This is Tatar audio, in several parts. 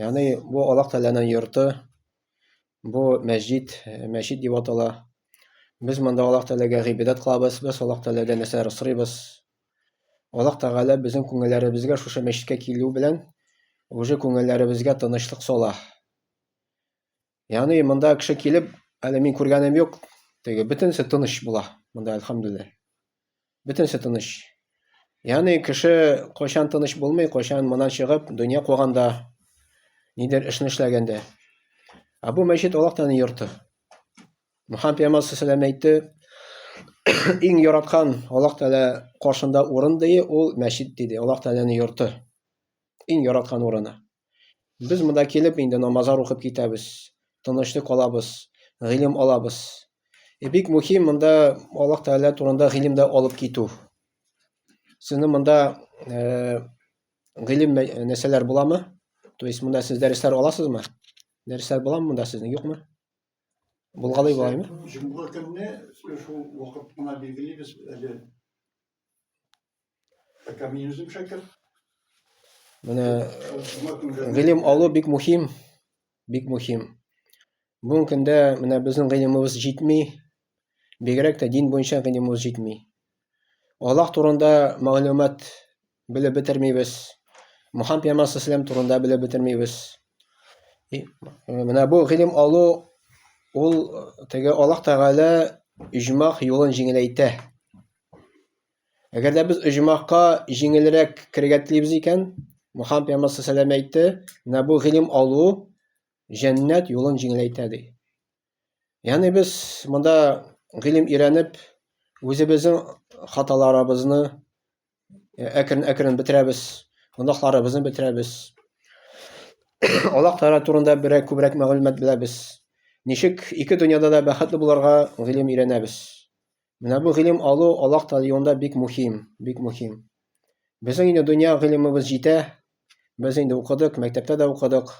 Ягъни бу Аллаһ Тәгаләнең йорты, бу мәсҗид, мәчет дип атала. Без монда Аллаһ Тәгаләгә гыйбадәт кылабыз, без Аллаһ Тәгаләдән нәрсәләр сорыйбыз. Аллаһ Тәгалә безнең күңелләребезгә шушы мәчеткә килү белән уже күңелләребезгә тынычлык сала. Яны монда кеше килеп, әле мин күргәнем юк, теге бөтенесе тыныч була. Монда әлхәмдүлилләһ. Бөтенесе тыныч. Яны кеше кайчан тыныч булмый, кайчан монан чыгып, дөнья куганда, нидер эшне эшләгәндә. Ә бу мәчет Аллаһтан йорты. Мөхәммәд пәйгамбәр сәлам әйтте, иң яраткан Аллаһ Тәгалә каршында урын дие, ул мәчет диде. Аллаһ Тәгаләнең йорты. Иң яраткан урыны. Без монда килеп инде намазлар укып китәбез, тынычлык алабыз, гыйлем алабыз. Э, бик мөһим монда Аллаһ Тәгалә турында гыйлем дә алып китү. Сезне монда э, гыйлем нәрсәләр буламы? То есть монда сез дәресләр аласызмы? Дәресләр буламы монда сезнең, юкмы? Булгалый булаймы? Җомга көнне шул вакыт кына билгелибез әле Менә гыйлем алу бик мөһим, бик мөһим. Бүгенге көндә менә безнең гыйлемебез җитми, бигрәк тә дин буенча гыйлемебез җитми. Аллаһ турында мәгълүмат белеп бетермибез. Мухаммад пәйгамбәр саллаллаху турында белеп бетермибез. Э, менә бу гыйлем алу ул теге Аллаһ Тәгалә иҗмах юлын җиңеләйтә. Әгәр дә без оҗмахка җиңелрәк керергә телибез икән, Мухаммад пәйгамбәр саллаллаху әйтте, менә бу гыйлем алу җәннәт юлын җиңеләйтә ди. Ягъни без монда гыйлем өйрәнеп, үзебезнең хаталарыбызны әкрен-әкрен бетерәбез, гөнаһларыбызны бетерәбез. Аллаһ Тәгалә турында берәр күбрәк мәгълүмат беләбез. Ничек ике дөньяда да бәхетле булырга гыйлем өйрәнәбез. Менә бу гыйлем алу Аллаһ Тәгалә юлында бик мөһим, бик мөһим. Безнең инде дөнья гыйлемебез җитә. Без инде укыдык, мәктәптә дә укыдык,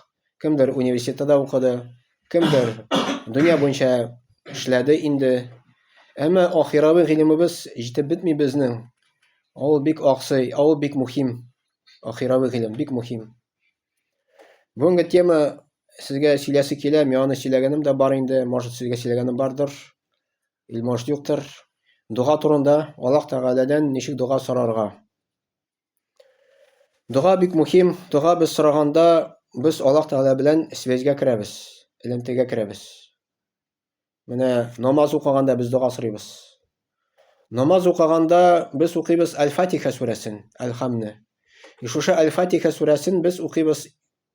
кемдер университетта да укыды, кемдер дөнья буенча эшләде инде. Әмма ахирәви гыйлемебез җитеп бетми безнең. Ул бик аксый, ул бик мөһим. Ахирәви гыйлем бик мөһим. Бүгенге тема сезгә сөйләсе килә, мианы сөйләгәнем дә бар инде, может, сезгә сөйләгәнем бардыр. Илмаш диктор, дога турында Аллаһ Тәгаләдән ничек дога сорарга? Дога бик мөһим. Дога без сораганда, без Аллаһ Тәгалә белән связьга керәбез, элемтәгә керәбез. Менә намаз укыганда без дога сорыйбыз. Намаз укыганда без укыйбыз Аль-Фатиха сүрәсен, Аль-Хамны. И шушы Аль-Фатиха сүрәсен без укыйбыз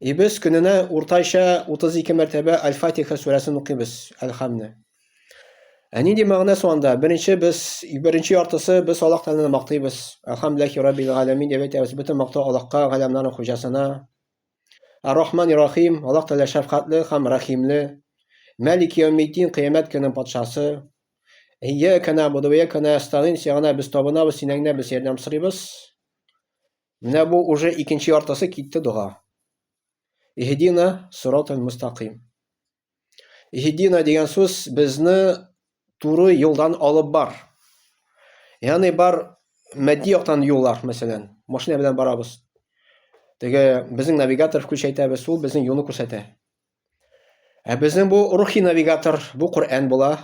И без көненә уртача 32 мәртәбә Аль-Фатиха сүрәсен укыйбыз, Әл-Хамне. Ә нинди мәгънә суанда? Беренче без беренче яртысы без Аллаһ Тәгаләне мактыйбыз. Алхамдулиллахи раббил галәмин дип әйтәбез. Бөтен мактау Аллаһка, галәмнәрнең хуҗасына. Ар-Рахман Рахим, Аллаһ Тәгалә шәфкатьле һәм рәхимле. Мәлик Яумиддин, кыямәт көненең патшасы. Ия кана будуя кана астагин, сиңа без табынабыз, синәң генә без ярдәм сорыйбыз. Менә бу уже икенче яртысы китте дога. Иһдина сиротал мустаким. Иһдина дигән сүз безне туры юлдан алып бар. Ягъни бар матди яктан юллар, мәсәлән, машина белән барабыз. Теге безнең навигатор включайтабыз, ул безнең юлны күрсәтә. Ә безнең бу рухи навигатор, бу Коръән була.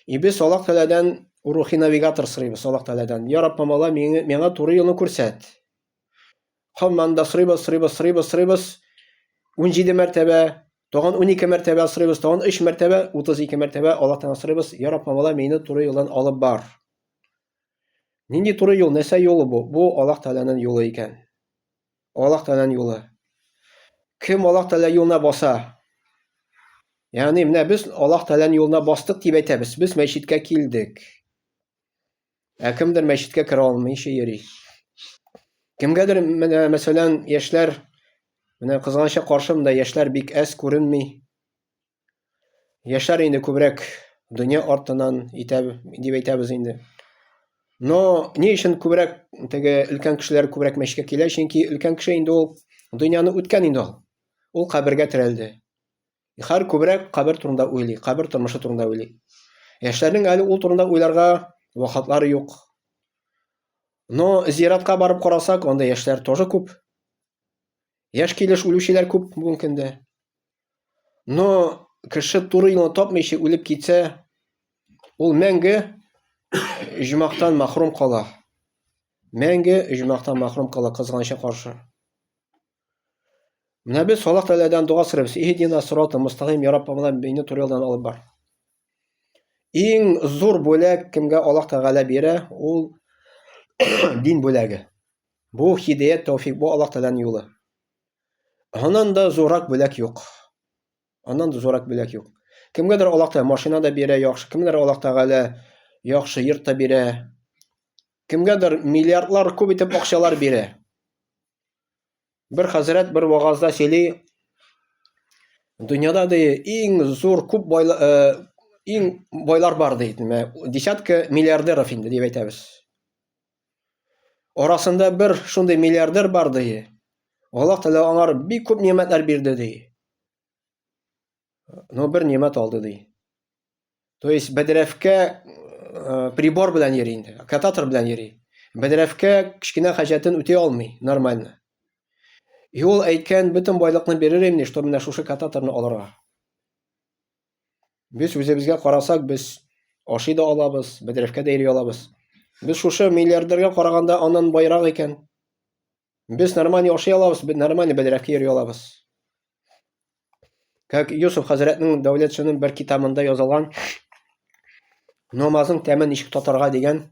И без Аллаһ Тәгаләдән рухи навигатор сорыйбыз Аллаһ Тәгаләдән. Я Рабб, мала миңа туры юлны күрсәт. Хамман да сорыйбыз, сорыйбыз, сорыйбыз, сорыйбыз. 17 мәртәбә, тагын 12 мәртәбә сорыйбыз, тагын 3 мәртәбә, 32 мәртәбә Аллаһ Тәгаләдән сорыйбыз. Я Рабб, мала мине туры юлдан алып бар. Нинди туры юл, нәрсә юлы бу? Бу Аллаһ Тәгаләнең юлы икән. Аллаһ Тәгаләнең юлы. Кем Аллаһ Тәгалә юлына баса? Ягъни менә без Аллаһ Тәгаләнең юлына бастык дип әйтәбез. Без мәчеткә килдек. Ә кемдер мәчеткә керә алмыйча йөри. Кемгәдер менә мәсәлән, яшьләр менә кызганычка каршы монда яшьләр бик әз күренми. Яшьләр инде күбрәк дөнья артынан итә дип әйтәбез инде. Но ни өчен күбрәк теге өлкән кешеләр күбрәк мәчеткә килә? Чөнки өлкән кеше инде ул дөньяны үткән инде ул. Ул кабергә терәлде. Хәр күбрәк кабер турында уйлый, кабер тормышы турында уйлый. Яшьләрнең әле ул турында уйларга вакытлары юк. Но зиратка барып карасак, анда яшьләр тоже күп. Яшь килеш үлүчеләр күп бүгенге көндә. Но кеше туры юлны тапмыйча үлеп китсә, ул мәңге оҗмахтан мәхрүм кала. Мәңге оҗмахтан мәхрүм кала кызганыча каршы. Менә без Аллаһ Тәгаләдән дога сорыйбыз. Иһдина сирата мустаким, я Рабб, миңа мине туры юлдан алып бар. Иң зур бүләк кемгә Аллаһ Тәгалә бирә, ул дин бүләге. Бу һидәят тәүфик, бу Аллаһ Тәгаләнең юлы. Аннан да зуррак бүләк юк. Аннан да зуррак бүләк юк. Кемгәдер Аллаһ Тәгалә машина да бирә, яхшы, кемгәдер Аллаһ Тәгалә яхшы йорт та бирә. Кемгәдер миллиардлар күп итеп акчалар бирә. Бер хәзрәт бер вагазда сөйли, дөньяда ди иң зур күп байлар э, иң байлар бар ди, десятка миллиардеров инде дип әйтәбез. Арасында бер шундый миллиардер бар, ди. Аллаһ Тәгалә аңар бик күп нимәтләр бирде, ди. Но бер нимәт алды, ди. То есть бәдрәфкә э, прибор белән йөри инде, кататор белән йөри. Бәдрәфкә кечкенә хаҗәтен үти алмый нормально. И ул әйткән, бөтен байлыкны бирер инде, что менә шушы кататорны алырга. Без үзебезгә карасак, без ашый да алабыз, бәдрәфкә дә йөри алабыз. Без шушы миллиардерга караганда аннан байрак икән. Без нормально ашый алабыз, без нормально бәдрәфкә йөри алабыз. Как Юсуф хәзрәтнең дәүләт шунын бер китабында язылган намазның тәмен ничек татарга дигән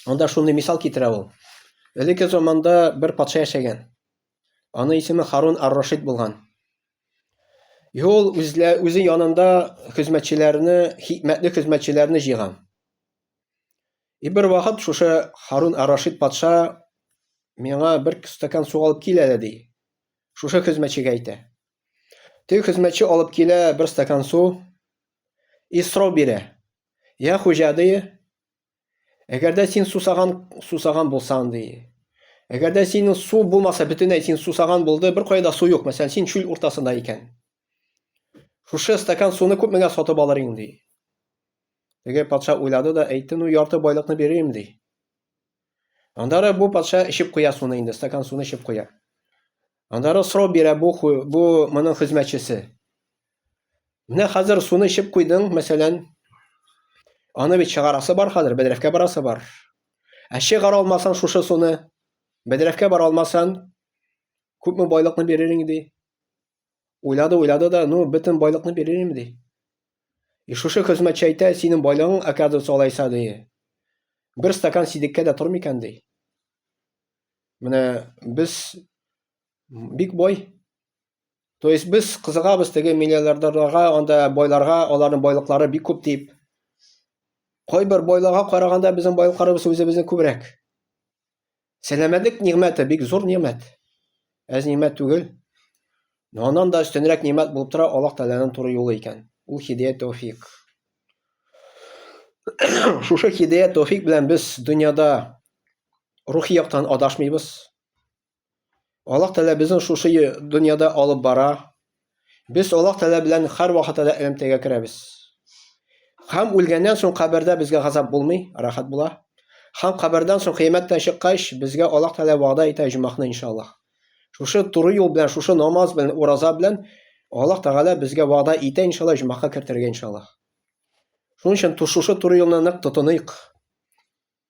Анда шундый мисал китерә ул. Элекке заманда бер патша яшәгән. Аны исеме Харун ар-Рашид булган. И ул үзлә, үзе янында хезмәтчеләрне, хикмәтле хезмәтчеләрне җыйган. И бер вакыт шушы Харун ар-Рашид патша миңа бер стакан су алып кил әле ди. Шушы хезмәтчегә әйтә. Теге хезмәтче алып килә бер стакан су и сорау бирә. Я хуҗа ди, Әгәр дә син сусаган, сусаган булсаң, ди. Әгәр дә синең су булмаса, бөтенләй син сусаган булды, бер кайда су юк, мәсәлән, син чүл уртасында икән. Шушы стакан суны күпмегә сатып алыр инең, ди. Теге патша уйлады да әйтте, ну, ярты байлыкны бирим, ди. Аннары бу патша эчеп куя суны инде, стакан суны эчеп куя. Аннары сорау бирә бу бу моның хезмәтчесе. Менә хәзер суны эчеп куйдың, мәсәлән, аны бит чыгарасы бар хәзер, бәдрәфкә барасы бар. Ә чыгара алмасаң шушы суны, бәдрәфкә бара алмасаң, күпме байлыкны бирер инде? Уйлады, уйлады да, ну, бөтен байлыкны биререм, ди. И шушы хезмәтче әйтә, синең байлыгың, оказывается, алайса, ди. Бер стакан сидеккә дә тормый икән, ди. Менә без бик бай. То есть без кызыгабыз теге миллиардерларга, анда байларга, аларның байлыклары бик күп дип. Кайбер байларга караганда безнең байлыкларыбыз үзебезнең күбрәк. Сәламәтлек нигъмәте бик зур нигъмәт. Әз нигъмәт түгел. Но аннан да өстенрәк нигъмәт булып тора Аллаһ Тәгаләнең туры юлы икән. Ул хидәят тәүфик. Шушы хидәят тәүфик белән без дөньяда рухи яктан адашмыйбыз. Аллаһ Тәгалә безне шушы дөньяда алып бара. Без Аллаһ Тәгалә белән һәрвакыт әле элемтәгә керәбез. Һәм үлгәннән соң кабердә безгә газап булмый, рәхәт була. Һәм кабердән соң кыямәттән чыккач, безгә Аллаһ Тәгалә вәгъдә итә җумахны иншаллаһ. Шушы туры юл белән, шушы намаз белән, ураза белән Аллаһ Тәгалә безгә вәгъдә итә иншаллаһ җумахка кертергә иншаллаһ. Шуның өчен шушы туры юлны нык тотыныйк.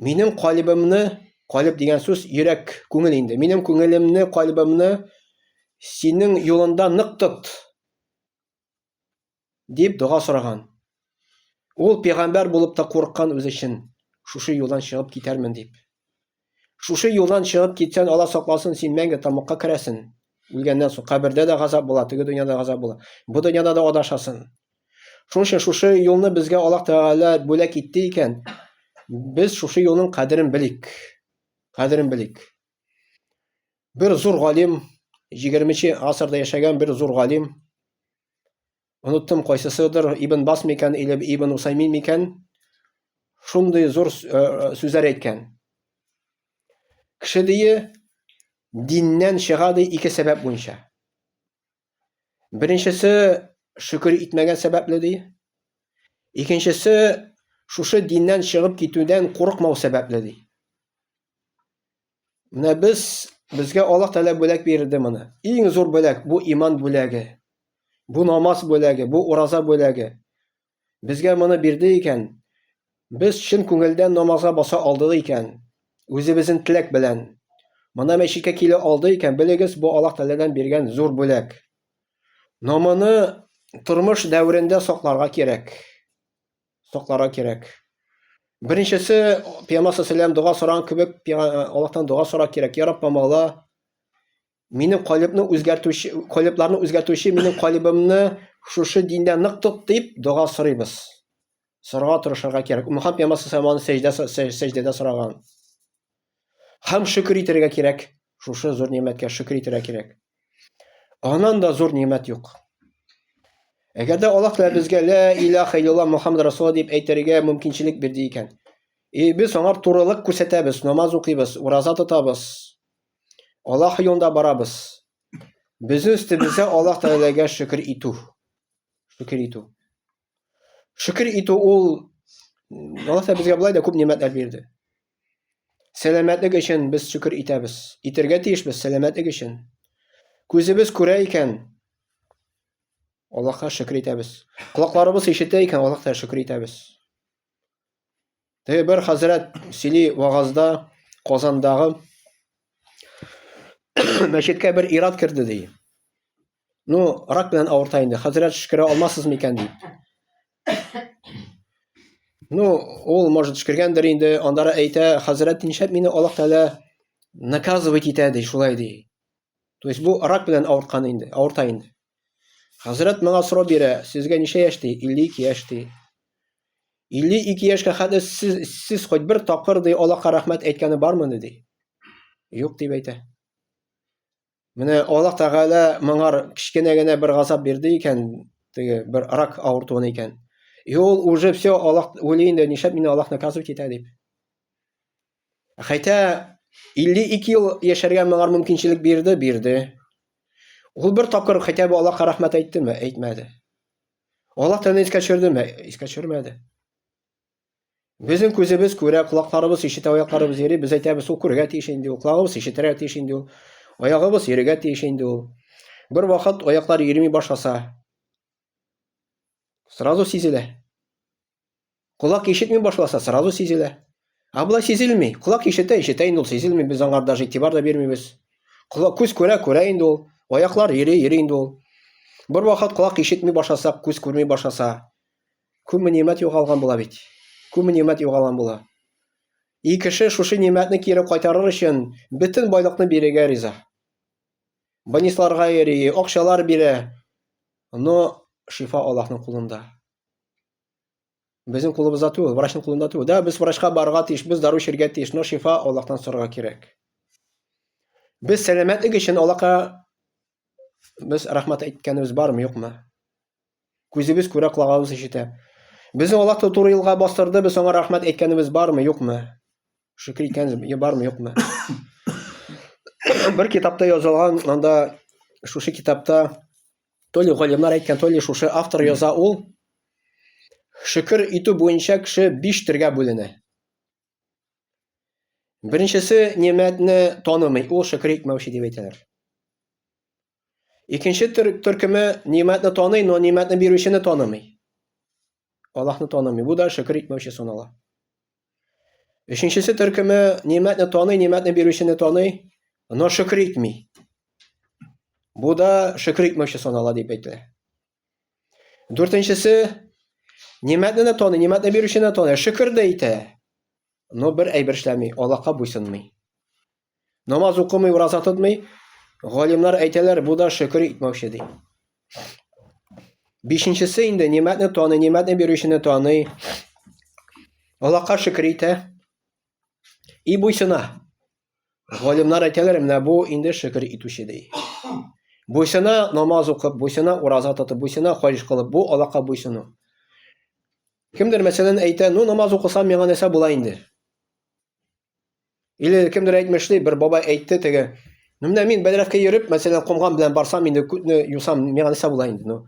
Минем калибымны, калиб дигән сүз йөрәк, күңел инде. Минем күңелемне, калибымны синең юлында нык тот. Дип дога сораган. Ул пигамбәр булып та курыккан үз өчен. Шушы юлдан чыгып китәрмен дип. Шушы юлдан чыгып китсән, Алла сакласын, син мәңге тамакка керәсен. Үлгәннән соң кабердә дә газап була, теге дөньяда газап була. Бу дөньяда да адашасын. Шуның өчен шушы юлны безгә Аллаһ Тәгалә бүләк итте икән, без шушы юлның кадерен белик. Кадерен белик. Бер зур галим, 20-нче гасырда яшәгән бер зур галим, оныттым кайсысыдыр, Ибн Бас микән или Ибн Усаймин микән, шундый зур э, сүзләр әйткән. Кеше дие диннән чыга ди ике сәбәп буенча. Беренчесе шөкер итмәгән сәбәпле ди. Икенчесе шушы диннән чыгып китүдән курыкмау сәбәпле ди. Менә без безгә Аллаһ Тәгалә бүләк бирде моны. Иң зур бүләк бу иман бүләге. Бу намаз бүләге, бу ураза бүләге. Безгә моны бирде икән, без чын күңелдән намазга баса алдык икән, үзебезнең теләк белән. Моны мәчеткә килә алды икән, белегез, бу Аллаһ Тәгаләдән биргән зур бүләк. Но моны тормыш дәверендә сакларга кирәк. Сакларга кирәк. Беренчесе, Пәйгамбәр саллаллаху алейһи дога сораган кебек, Аллаһтан дога сорарга кирәк. Я Раббым, Алла, Минем калебны үзгәртүче, калебларны үзгәртүче минем калебымны шушы диндә нык тот дип дога сорыйбыз. Сорага тырышырга кирәк. Мөхәммәд пәйгамбәр сәламаны сәҗдә сәҗдәдә сораган. Хәм шөкер итәргә кирәк. Шушы зур ниметкә шөкер итәргә кирәк. Анан да зур нимет юк. Әгәр дә Аллаһ Тәгалә безгә ла илаха илляллаһ Мухаммад Расулла дип әйтергә мөмкинчелек бирде икән. И без аңар турылык күрсәтәбез, намаз укыйбыз, ураза тотабыз. Аллах юлында барабыз. Безнең өстебездә Аллах Тәгаләгә шөкер итү. Шөкер итү. Шөкер итү ул Аллах Тәгалә безгә болай да күп нигъмәтләр бирде. Сәламәтлек өчен без шөкер итәбез. Итәргә тиешбез сәламәтлек өчен. Күзебез күрә икән, Аллаһка шөкер итәбез. Колакларыбыз ишетә икән, Аллаһка шөкер итәбез. Теге бер хәзрәт сөйли вагазда Казандагы мәчеткә бер ират керде ди. Ну, рак белән авырта инде. Хәзрәт шкерә алмасыз микән ди. Ну, ул может шкергәндер инде, андара әйтә, хәзрәт ничәп мине Аллаһ Тәгалә наказывать итә ди, шулай ди. То есть бу рак белән авырткан инде, авырта инде. Хәзрәт миңа сорау бирә, сезгә ничә яшь ди? 52 яшь ди. 52 яшькә хәтле сез, сез хоть бер тапкыр ди Аллаһка рәхмәт әйткәне бармыни ди? Юк дип әйтә. Менә Аллаһ Тәгалә моңар кечкенә генә бер газап бирде икән, теге бер рак авыртуын икән. И ул уже все Аллаһ уйлый инде, нишләп мине Аллаһ наказывать итә дип. Хәйтә 52 ел яшәргә моңар мөмкинчелек бирде, бирде. Ул бер тапкыр хәйтә бу Аллаһка рәхмәт әйттеме, әйтмәде. Аллаһ тәне искә төшердеме, искә төшермәде. Безнең күзебез күрә, колакларыбыз ишетә, аякларыбыз йөри, без әйтәбез, ул күргә тиеш инде, ул колагыбыз ишетергә тиеш инде, ул аягыбыз йөрергә тиеш инде ул. Бер вакыт аяклар йөрми башласа, сразу сизелә. Колак ишетми башласа, сразу сизелә. А болай сизелми. Колак ишетә, ишетә инде ул сизелми. Без аңар даже игътибар да бирмибез. Колак күз күрә, күрә инде ул. Аяклар йөри, йөри инде ул. Бер вакыт колак ишетми башласак, күз күрми башласа, күпме нимәт югалган була бит. Күпме нимәт югалган була. И кеше шушы нимәтне кире кайтарыр өчен бөтен байлыкны бирергә риза. Банисларга йөри, акчалар бирә. Но шифа Аллаһның кулында. Безнең кулыбызда түгел, врачның кулында түгел. Да, без врачка барырга тиеш, без дару эчәргә тиеш, но шифа Аллаһтан сорарга кирәк. Без сәламәтлек өчен Аллаһка без рәхмәт әйткәнебез бармы, юкмы? Күзебез күрә, колагыбыз ишетә. Безне Аллаһ туры юлга бастырды, без аңа рәхмәт әйткәнебез бармы, юкмы? Шөкер икән, я бармы, юкмы? Бер китапта язылган, анда шушы китапта то ли галимнар әйткән, то ли шушы автор яза ул. Шөкер итү буенча кеше биш төргә бүленә. Беренчесе немәтне танымый, ул шөкер итмәүче дип әйтәләр. Икенче төр, төркеме нимәтне таный, но нимәтне бирүчене танымый. Аллаһны танымый. Бу да шөкер итмәүче санала. Өченчесе төркеме нимәтне таный, нимәтне бирүчене таный, но шөкер итми. Бу да шөкер итмәүче санала дип әйтелә. Дүртенчесе нимәтне дә таный, нимәтне бирүчене таный, шөкер дә итә, но бер әйбер эшләми, Аллаһка буйсынмый. Намаз укымый, ураза тотмый, галимнар әйтәләр, бу да шөкер итмәүче ди. Бишенчесе инде нимәтне таный, нимәтне бирүчене таный. Аллаһка шөкер итә. И буйсына. Галимнар әйтәләр, менә бу инде шөкер итүче ди. Буйсына намаз укып, буйсына ураза тотып, буйсына хаҗ кылып, бу Аллаһка буйсыну. Кемдер мәсәлән әйтә, ну намаз укысам миңа нәрсә була инде? Или кемдер әйтмешли, бер бабай әйтте теге. Ну менә мин бәдрәфкә йөреп, мәсәлән, комган белән барсам инде күтне юсам, миңа нәрсә була инде, ну.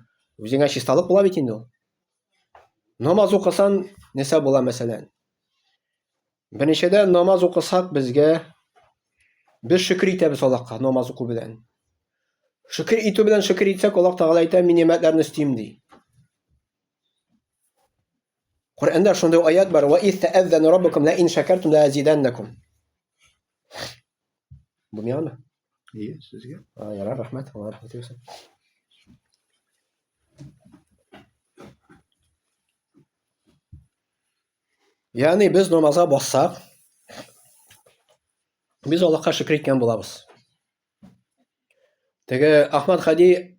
Үзеңә чисталык була бит инде ул. Намаз укысан нәрсә була мәсәлән? Беренчедән намаз укысак безгә без шөкер итәбез Аллаһка намаз уку белән. Шөкер итү белән шөкер итсәк, Аллаһ Тагала әйтә, мин нигъмәтләрне өстим ди. Коръәндә шундый аят бар: "Ва ис тәәззәна раббукум ла ин шакартум ла азиданнакум". Бу миңа? Ие, сезгә. А, ярар, рәхмәт. Алла рәхмәт итсен. Ягъни без намазга бассак, без Аллаһка шөкер иткән булабыз. Теге Ахмад Хади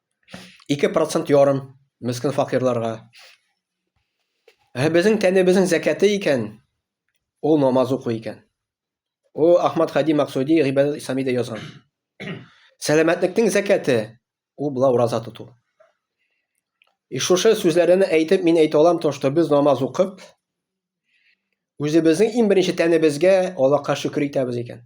Ике процент ярым мескін фақирларға. Ә безнең тәнебезнең зәкәте икән, ул намаз уку икән. Ул Ахмад Хади Максуди Гибадат Исламида язган. Сәламәтлекнең зәкәте ул була ураза тоту. И шушы сүзләрне әйтеп мин әйтә алам то, что без намаз укып, үзебезнең иң беренче тәнебезгә Аллаһка шөкер итәбез икән.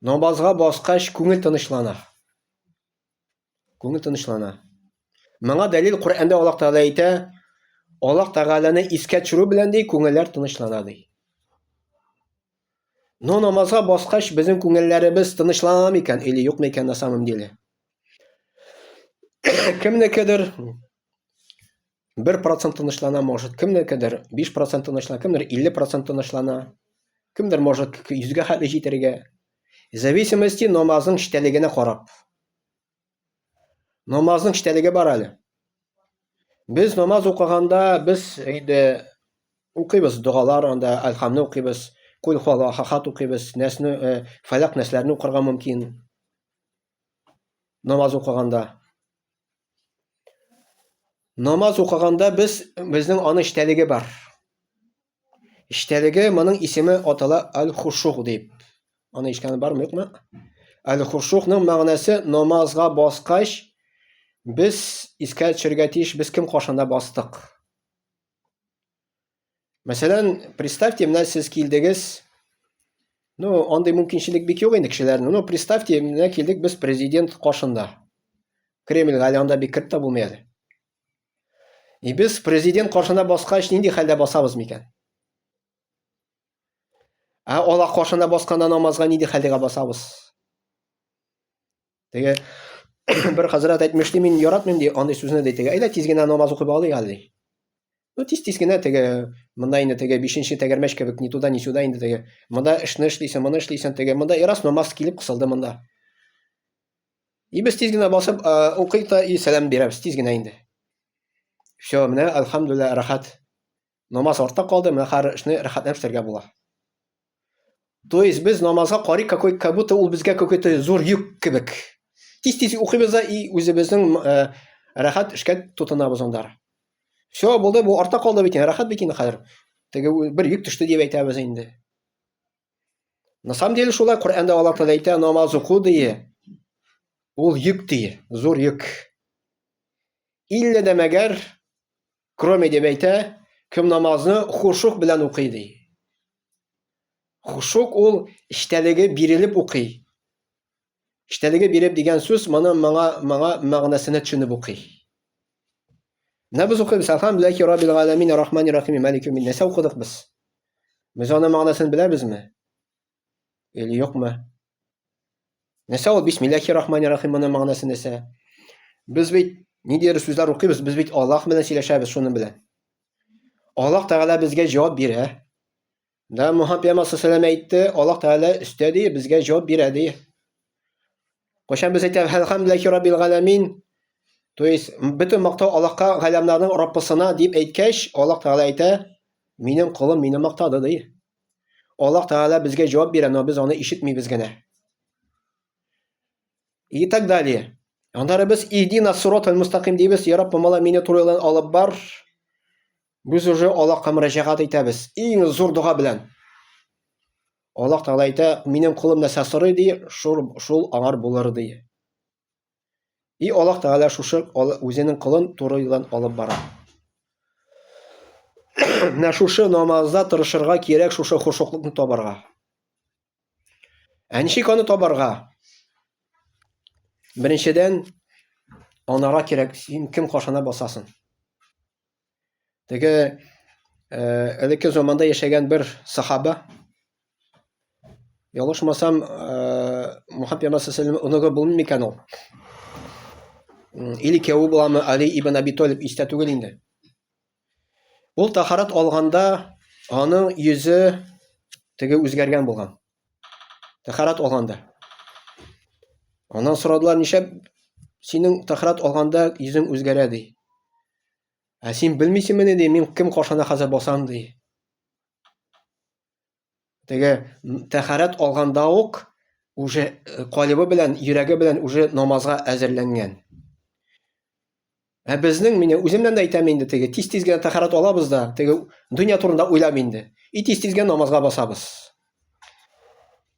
Намазга баскач, күңел тынычлана. Күңел тынычлана. Моңа дәлил Коръәндә Аллаһ Тәгалә әйтә, Аллаһ Тәгаләне искә төшерү белән ди күңелләр тынычлана ди. Но намазга баскач безнең күңелләребез тынычлана микән или юк микән на самом деле? Кемнекедер 1 процент тынычлана, может, кемдер кедер 5 процент тынычлана, кемдер 50 процент тынычлана, кемдер может 100-гә хәтле җитәргә. Зависимости намазның читәлегенә карап. Намазның читәлеге бар әле. Без намаз укыганда без инде укыйбыз догалар анда әлхамны укыйбыз, кул хуалахахат укыйбыз, нәсне, фәләк нәсләрне укырга мөмкин. Намаз укыганда. Намаз укыганда без безнең аны эчтәлеге бар. Эчтәлеге моның исеме атала аль-хушух дип. Аны ишкәне бармы, юкмы? Аль-хушухның мәгънәсе намазга баскач без искә төшергә тиеш, без кем кашында бастык. Мәсәлән, представьте, менә сез килдегез. Ну, андый мөмкинчелек бик юк инде кешеләрнең. Ну, представьте, менә килдек без президент кашында. Кремльгә әле анда бик кереп тә булмый әле. И без президент каршында баскач нинди хәлдә басабыз микән? Ә Аллаһ каршында басканда намазга нинди хәлдә басабыз? Теге бер хәзрәт әйтмешли, мин яратмыйм ди андый сүзне ди. Теге әйдә тиз генә намаз укып алыйк әле. Ну тиз тиз генә теге монда инде теге бишенче тәгәрмәч кебек ни туда ни сюда инде теге монда эшне эшлисең, моны эшлисең теге монда и раз намаз килеп кысылды монда. И без тиз генә басып укыйк та и сәлам бирәбез тиз генә инде. Все, менә альхамдулилла рахат. Намаз артта калды, менә хәзер эшне рәхәтләнеп эшләргә була. То есть без намазга карый какой как будто ул безгә какой-то зур йөк кебек. Тиз-тиз укыйбыз да и үзебезнең э, рәхәт эшкә тотынабыз анда. Все, булды, бу артта калды бит, рәхәт бит инде хәзер. Теге бер йөк төште дип әйтәбез инде. На самом деле шулай Коръәндә Аллаһ Тәгалә әйтә, намаз уку дие. Ул йөк дие, зур йөк. Иллә дә мәгәр Кроме дип әйтә, кем намазны хушук белән укый ди. Хушук ул эчтәлеге бирелеп укый. Эчтәлеге биреп дигән сүз моны моңа моңа мәгънәсенә төшенеп укый. Менә без укыйбыз, әлхәмдүлилләһи раббил галәмин, рахмани рахими, малики мин. Нәрсә укыдык без? Без аның мәгънәсен беләбезме? Или юк мы? Нәрсә ул бисмиллахи рахмани рахим моның мәгънәсе нәрсә? Без бит ниндидер сүзләр укыйбыз, без бит Аллаһ белән сөйләшәбез шуның белән. Аллаһ Тәгалә безгә җавап бирә. Да Мухаммад пәйгамбәр саллаллаху әйтте, Аллаһ Тәгалә өстә ди, безгә җавап бирә ди. Кайчан без әйтәбез, "Әлхәмдүлиллахи раббил галәмин", то есть бөтен мактау Аллаһка галәмнәрнең Раббысына дип әйткәч, Аллаһ Тәгалә әйтә, "Минем колым мине мактады" ди. Аллаһ Тәгалә безгә җавап бирә, но без аны ишетмибез генә. И так далее. Аннары без иһдина сиротал мустаким дибез, я Раббым, алла мине туры юлдан алып бар. Без уже Аллаһка мөрәҗәгать итәбез. Иң зур дога белән. Аллаһ Тәгалә әйтә, минем кулым нәрсә сорый ди, шул, шул аңар булыр ди. И Аллаһ Тәгалә шушы үзенең колын туры юлдан алып бара. Менә шушы намазда тырышырга кирәк, шушы хушуклыкны табарга. Ә ничек аны табарга? Беренчедән, анара кирәк, син кем кашана басасың? Теге элекке заманда яшәгән бер сахаба, ялышмасам, Мухаммад пәйгамбәр саллаллаху оныгы булмый микән ул? Или кияүе буламы Али ибн Аби Талиб истә түгел инде. Ул тахарат алганда аның йөзе теге үзгәргән булган. Тәхәрат алганда. Аннан сорадылар, ничә синең тәхәрат алганда йөзең үзгәрә ди. Ә син белмисеңме ни ди, мин кем каршына хәзер басам ди. Теге тәхәрат алганда ук уже э, калибы белән, йөрәге белән уже намазга әзерләнгән. Ә безнең, мине үземнән дә әйтәм инде, теге тиз-тиз генә тәхәрат алабыз да, теге дөнья турында уйлам инде. И тиз-тиз генә намазга басабыз.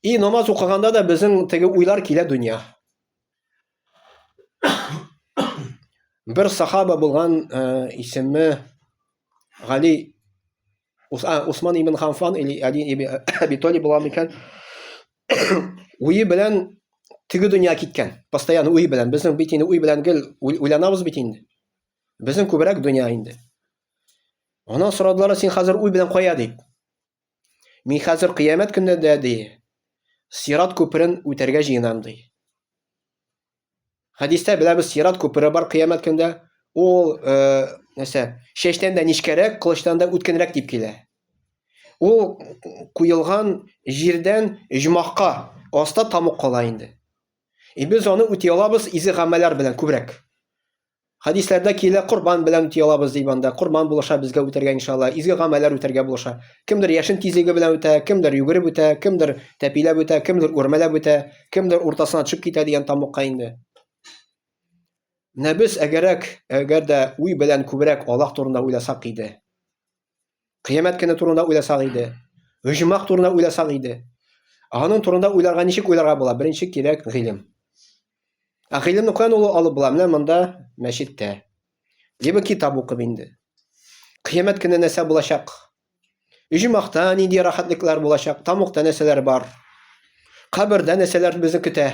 И намаз укыганда да безнең теге уйлар килә дөнья. Бер сахаба булган э, исеме Гали Усман ибн Ханфан или Али ибн Аби Талиб була микән? Уе белән теге дөнья киткән. Постоянно уй белән. Безнең бит инде уй белән гел уйланабыз бит инде. Безнең күбрәк дөнья инде. Анан сорадылар, син хәзер уй белән кая дип. Мин хәзер кыямәт көндә дә ди. Сират күперен үтәргә җыенам ди. Хәдистә беләбез, сират күпере бар кыямәт көндә. Ул, э, нәрсә, шәчтән дә нечкәрәк, кылычтан да үткенрәк дип килә. Ул куелган җирдән җмахка аста тамук кала инде. И без аны үти алабыз изе гамәлләр белән күбрәк. Хәдисләрдә килә, корбан белән үти алабыз дип анда. Корбан булыша безгә үтәргә иншалла. Изге гамәлләр үтәргә булыша. Кемдер яшен тизлеге белән үтә, кемдер йөгереп үтә, кемдер тәпиләп үтә, кемдер үрмәләп үтә, кемдер уртасына төшеп китә дигән тамукка инде. Менә без әгәрәк, әгәр дә уй белән күбрәк Аллаһ турында уйласак иде. Кыямәт көне турында уйласак иде, оҗмах турында уйласак иде. Аның турында уйларга ничек уйларга була? Беренче кирәк гыйлем. Ә гыйлемне каян ул алып була? Менә монда мәчеттә. Либо китап укып инде. Кыямәт көне нәрсә булачак? Оҗмахта нинди рәхәтлекләр булачак? Тамукта нәрсәләр бар? Кабердә нәрсәләр безне көтә?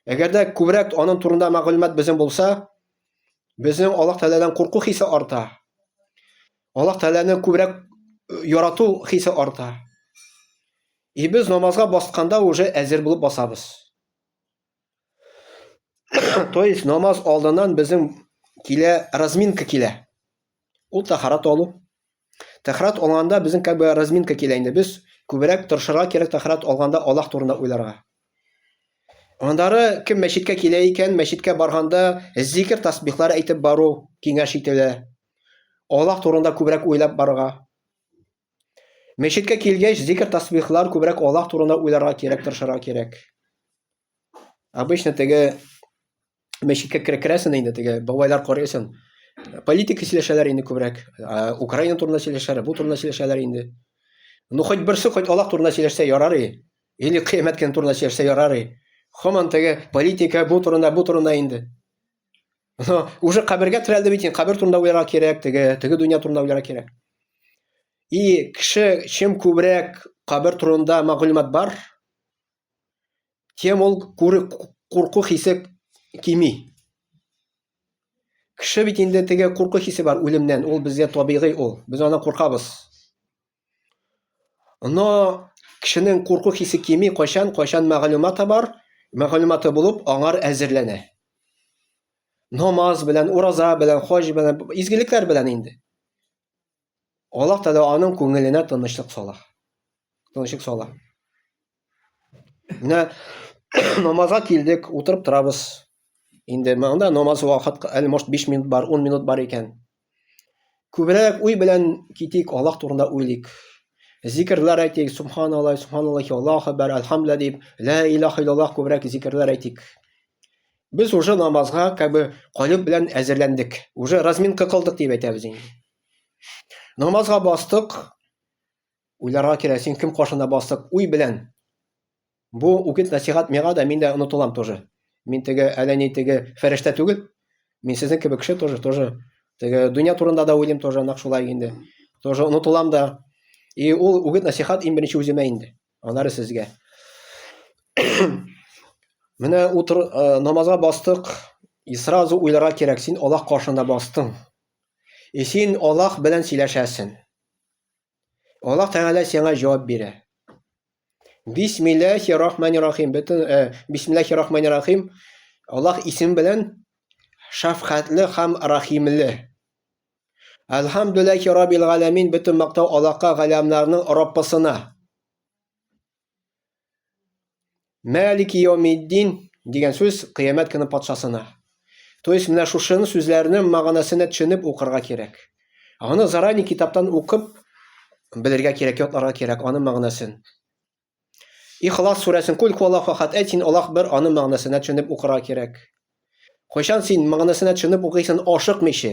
Әгәрдә күбрәк аның турында мәгълүмат безнең булса, безнең Аллаһ Тәгаләдән курку хисе арта. Аллаһ Тәгаләне күбрәк э, ярату хисе арта. И без намазга басканда уже әзер булып басабыз. То есть намаз алдыннан безнең килә разминка килә. Ул тәхарат алу. Тәхарат алганда безнең как бы разминка килә инде. Без күбрәк тырышырга кирәк тәхарат алганда Аллаһ турында уйларга. Андары кем мәчеткә килә икән, мәчеткә барганда зикер тасбихлар әйтеп бару киңәш ителә. Аллаһ турында күбрәк уйлап барырга. Мәчеткә килгәч, зикер тасбихлар күбрәк Аллаһ турында уйларга кирәк, тырышырга кирәк. Обычно теге мәчеткә керәсен инде теге бабайлар карыйсың. Политика сөйләшәләр инде күбрәк. Украина турында сөйләшәләр, бу турында сөйләшәләр инде. Ну хоть берсе хоть Аллах турында сөйләшсә ярар и. Или кыямәт көне турында сөйләшсә ярар и. Хаман теге политика бу турында, бу турында инде. Но уже кабергә терәлде бит инде, кабер турында уйларга кирәк, теге теге дөнья турында уйларга кирәк. И кеше чем күбрәк кабер турында мәгълүмат бар, тем ул курку хисе кими. Кеше бит инде теге курку хисе бар үлемнән, ул безгә табигый ул. Без аны куркабыз. Но кешенең курку хисе кими кайчан, кайчан мәгълүматы бар, мәгълүматы булып аңар әзерләнә. Намаз белән, ураза белән, хаҗ белән, изгелекләр белән инде. Аллаһ Тәгалә аның күңеленә тынычлык сала. Тынычлык сала. Менә намазга килдек, утырып торабыз. Инде монда намаз вакыт әле может 5 минут бар, 10 минут бар икән. Күбрәк уй белән китик, Аллаһ турында уйлыйк. Зикрләр әйтик, субханаллаһ, субханаллаһи Аллаһу акбар, альхамдулиллаһ дип, ла илаха иллаллаһ күбрәк зикрләр әйтик. Без уже намазга как бы калып белән әзерләндек. Уже разминка кылдык дип әйтәбез инде. Намазга бастык. Уйларга кирәк, син кем каршында бастык? Уй белән. Бу үгет насихат миңа да, мин дә онытылам тоже. Мин теге әллә ни теге фәрештә түгел. Мин сезнең кебек кеше тоже, тоже. Теге дөнья турында да уйлыйм тоже, нак шулай инде. Тоже онытылам да. И ул үгет насихат иң беренче үземә инде. Аннары сезгә. Менә утыр э, намазга бастык. И сразу уйларга кирәк, син Аллаһ каршында бастың. И син Аллаһ белән сөйләшәсен. Аллаһ Тәгалә сиңа җавап бирә. Бисмиллахи рахмани рахим. Бөтен э, Бисмиллахи рахмани рахим. Аллаһ исем белән шафкатьле һәм рахимле. Әлхамдулиллахи раббил галәмин. Бөтен мактау Аллаһка галәмнәрнең Раббысына. Мәлики Йомиддин дигән сүз кыямәт көне патшасына. То есть менә шушыны сүзләрне мәгънәсенә төшенеп укырга кирәк. Аны зарани китаптан укып белергә кирәк, ятларга кирәк аны мәгънәсен. Ихлас сүрәсен кул куала фахат әйт син Аллаһ бер аны мәгънәсенә төшенеп укырга кирәк. Кайчан син мәгънәсенә төшенеп укыйсың ашыкмыйча?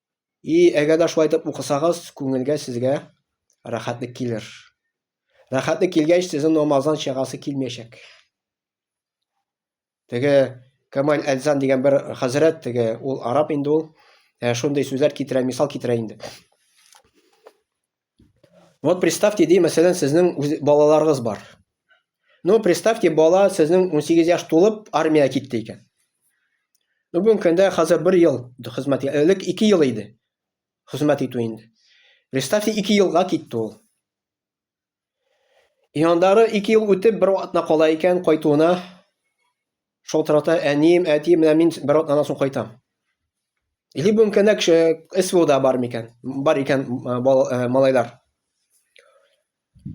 И әгәр дә шулай итеп укысагыз, күңелгә сезгә рәхәтлек килер. Рәхәтлек килгәч, сезнең намаздан чыгасы килмәячәк. Теге Камаль Әлзан дигән бер хәзрәт, теге ул араб инде ул, ә, шундый сүзләр китерә, мисал китерә инде. Вот представьте, ди, мәсәлән, сезнең балаларыгыз бар. Ну, представьте, бала сезнең 18 яш тулып, армия китте икән. Ну, бүгенге көндә хәзер 1 ел хезмәт, элек 2 ел иде хезмәт итү инде. Представьте, 2 елга китте ул. И андары 2 ел үтеп, бер атна кала икән кайтуына. Шул тарата әнием, әтием, менә мин бер атнадан соң кайтам. Или бу мөмкиннәк СВОда бар микән? Бар икән малайлар.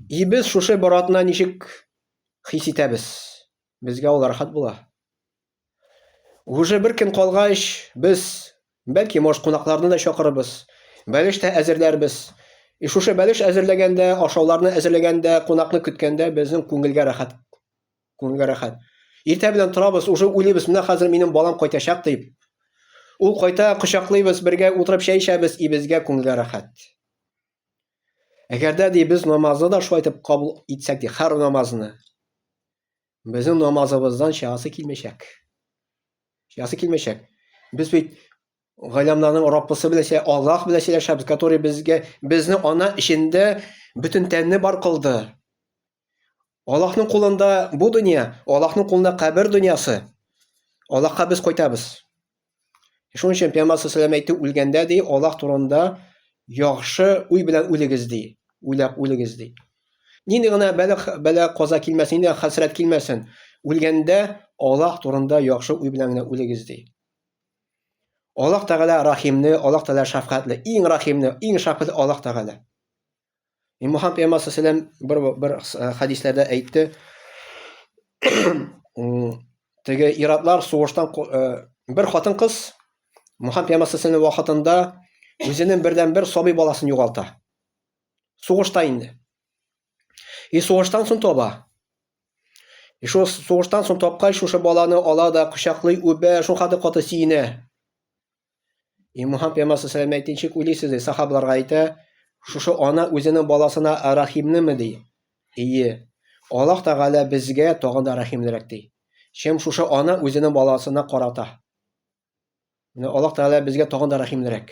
И без шушы бер атна ничек хис итәбез? Безгә ул рәхәт була. Уже бер көн калгач, без бәлки мош кунакларны да чакырыбыз. Бәлеш тә әзерләрбез. И шушы бәлеш әзерләгәндә, ашауларны әзерләгәндә, кунакны көткәндә безнең күңелгә рәхәт Күңелгә рәхәт. Иртә белән торабыз, уже уйлыйбыз, менә хәзер минем балам кайтачак дип. Ул кайта, кочаклыйбыз, бергә утырып чәй эчәбез, и безгә күңелгә рәхәт. Әгәрдә ди без намазны да шулай итеп кабул итсәк ди, хәр намазны. Безнең намазыбыздан чыгасы килмәчәк. Чыгасы килмәчәк. Без бит галәмнәрнең Раббысы белән сөйлә, Аллаһ белән сөйләшәбез, который безгә безне ана эчендә бөтен тәнне бар кылды. Аллаһның кулында бу дөнья, Аллаһның кулында кабер дөньясы. Аллаһка без кайтабыз. Шуның өчен Пәйгамбәр саллаллаху әйтте, үлгәндә ди, Аллаһ турында яхшы уй белән үлегез ди, уйлап үлегез ди. Нинди генә бәлә, бәлә каза килмәсен, нинди хәсрәт килмәсен, үлгәндә Аллаһ турында яхшы уй белән генә үлегез ди. Аллаһ Тәгалә Рахимне, Аллаһ Тәгалә шәфкатьле, иң Рахимне, иң шәфкатьле Аллаһ Тәгалә. И Мухаммад пәйгамбәр сәләм бер бер э, хәдисләрдә әйтте. Теге иратлар сугыштан э, бер хатын-кыз Мухаммад пәйгамбәр сәләм вакытында үзенең бердән бер сабый баласын югалта. Сугышта инде. И сугыштан соң тоба. И шул сугыштан соң тапкач, шушы баланы ала да кочаклый, үбә, шул хәтле каты сиенә. И Мухаммад пәйгамбәр саллаллаху алейхи ничек уйлыйсыз ди, сахабаларга әйтә, шушы ана үзенең баласына рәхимнеме ди? Ие. Аллаһ Тәгалә безгә тагын да рәхимлерәк ди. Чем шушы ана үзенең баласына карата. Менә Аллаһ Тәгалә безгә тагын да рәхимлерәк.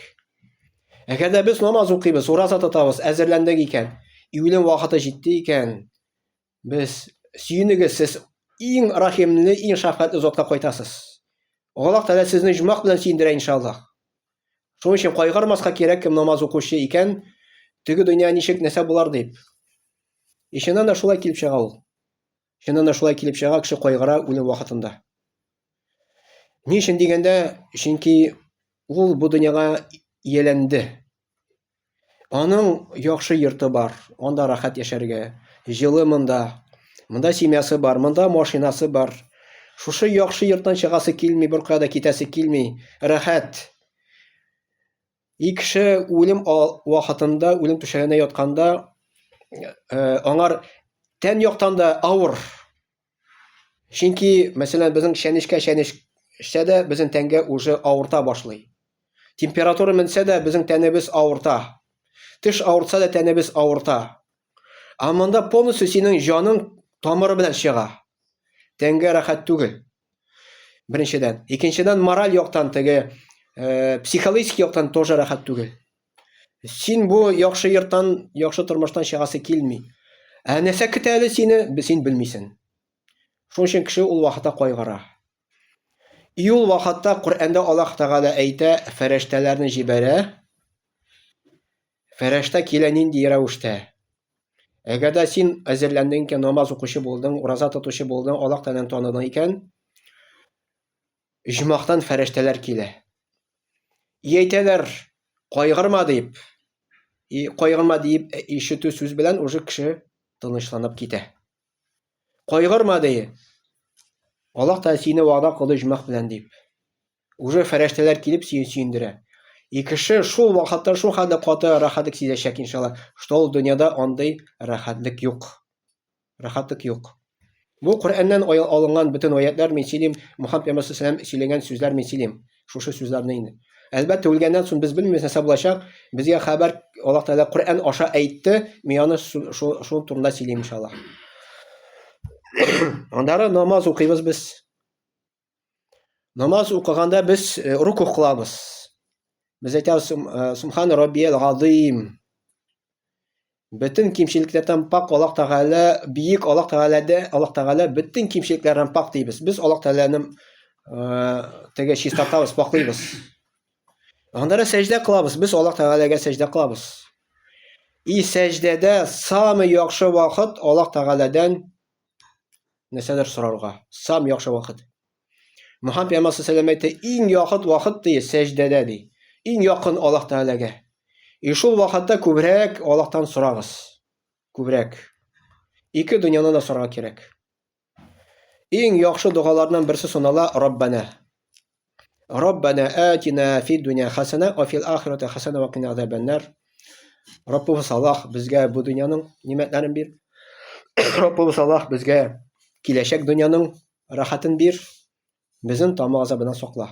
Әгәр дә без намаз укыйбыз, ураза тотабыз, әзерләндек икән, июлем вакыты җитте икән, Без сөенегез, сез иң рахимле, иң шәфкатьле затка кайтасыз. Аллаһ Тәгалә сезне җумак белән сөендерә иншаллаһ. Шуның өчен кайгырмаска кирәк, кем намаз укучы икән, теге дөнья ничек нәрсә булар дип. И чыннан да шулай килеп чыга ул. Чыннан да шулай килеп чыга, кеше кайгыра үлем вакытында. Ни өчен дигәндә, чөнки ул бу дөньяга ияләнде. Аның яхшы йорты бар, анда рәхәт яшәргә, җылы монда. Монда семьясы бар, монда машинасы бар. Шушы яхшы йорттан чыгасы килми, беркая да китәсе килми, рәхәт. И кеше үлем вакытында, үлем түшәгенә ятканда, э, аңар тән яктан да авыр. Чөнки, мәсәлән, безнең чәнечкә чәнеч эчсә дә, безнең тәнгә уже авырта башлый. Температура менсә дә, безнең тәнебез авырта. Теш авыртса да, тәнебез авырта. Ә монда полностью синең җаның тамыры белән чыга. Тәнгә рәхәт түгел. Беренчедән. Икенчедән, мораль яктан теге, э, психологик яктан тоже рәхәт түгел. Син бу яхшы йорттан, яхшы тормыштан чыгасы килми. Ә нәрсә көтә әле сине, син белмисең. Шуның өчен кеше ул вакытта кайгыра. И ул вакытта Коръәндә Аллаһ Тәгалә әйтә, фәрештәләрне җибәрә. Фәрештә килә нинди рәвештә? Әгәр дә син әзерләндең икән, намаз укучы булдың, ураза тотучы булдың, Аллаһ Тәгаләне таныдың икән, Оҗмахтан фәрештәләр килә. И әйтәләр, кайгырма дип. И кайгырма дип ишетү сүз белән уже кеше тынычланып китә. Кайгырма ди. Аллаһ Тәгалә сине вәгъдә кылды оҗмах белән дип. Уже фәрештәләр килеп сине сөендерә. И кеше шул вакытта шул хәлдә каты рәхәтлек сизәчәк иншалла, что ул дөньяда андый рәхәтлек юк. Рәхәтлек юк. Бу Коръәннән алынган бөтен аятьләр мин сөйлим, Мухаммад пәйгамбәр сәлам сөйләгән сүзләр мин сөйлим. Шушы сүзләрне инде. Әлбәттә, үлгәннән соң без белмибез нәрсә булачак. Безгә хәбәр Аллаһ Тәгалә Коръән аша әйтте, мин аны шул турында сөйлим иншаллаһ. Аннары намаз укыйбыз без. Намаз укыганда без э, руку кылабыз. Без әйтәбез э, Субхан Раббиел Газим. Бөтен кимчелекләрдән пак Аллаһ Тәгалә, биек Аллаһ Тәгаләдә, Аллаһ Тәгалә бөтен кимчелекләрдән пак дибез. Без Аллаһ Тәгаләне э, теге чистартабыз, паклыйбыз. Анда да сәҗдә кылабыз. Без Аллаһ Тәгаләгә сәҗдә кылабыз. И сәҗдәдә самый яхшы вакыт Аллаһ Тәгаләдән нәрсәдер сорарга. Сам яхшы вакыт. Мөхәммәд пәйгамбәр саллаллаху әйтте, иң яхыт вакыт ди сәҗдәдә ди. Иң якын Аллаһ Тәгаләгә. И шул вакытта күбрәк Аллаһтан сорагыз. Күбрәк. Ике дөньяны да сорарга кирәк. Иң яхшы догаларның берсе сонала Раббана. Раббана атина фид дөнья хасана ва фил ахирати хасана ва кина азабаннар. Раббыбыз Аллаһ безгә бу дөньяның нимәтләрен бир. Раббыбыз Аллаһ безгә киләчәк дөньяның рәхәтен бир. Безнең тамак азабынан сакла.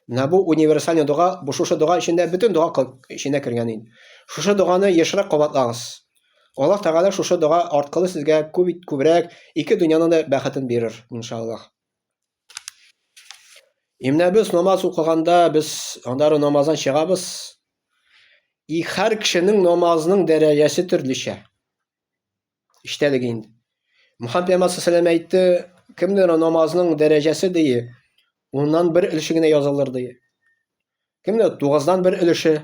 Менә бу универсальный дога, бу шушы дога эчендә бөтен дога эченә кергән инде. Шушы доганы ешрак кабатлагыз. Аллаһ Тәгалә шушы дога арткылы сезгә күп күбрәк ике дөньяның да бәхетен бирер, иншаллаһ. И менә без намаз укыганда без аннары намаздан чыгабыз. И һәр кешенең намазының дәрәҗәсе төрлечә. Иштәлек инде. Мөхәммәд пәйгамбәр саллаллаху әйтте, кемнең намазының дәрәҗәсе дие, уннан бер өлеше генә язылыр дие. Кемнең тугыздан бер өлеше,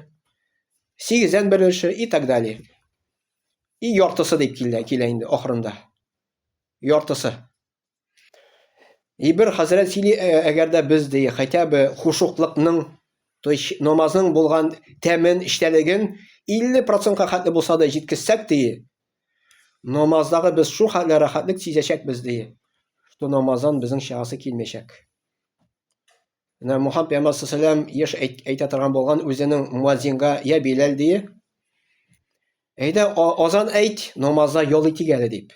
сигездән бер өлеше и так далее. И яртысы дип килә, килә инде ахырында. Яртысы. И бер хәзрәт сөйли, әгәр дә без ди, хотя бы хушуклыкның, то есть намазның булган тәмен, эчтәлеген 50%-ка хәтле булса да җиткезсәк ди, намаздагы без шул хәтле рәхәтлек сизәчәкбез ди, что намаздан безнең чыгасы килмәячәк. Менә Мухаммад пәйгамбәр саллаллаху алейһи еш әйтә торган булган үзенең муаззинга я Биләл ди. Әйдә азан әйт, намазда ял итик әле дип.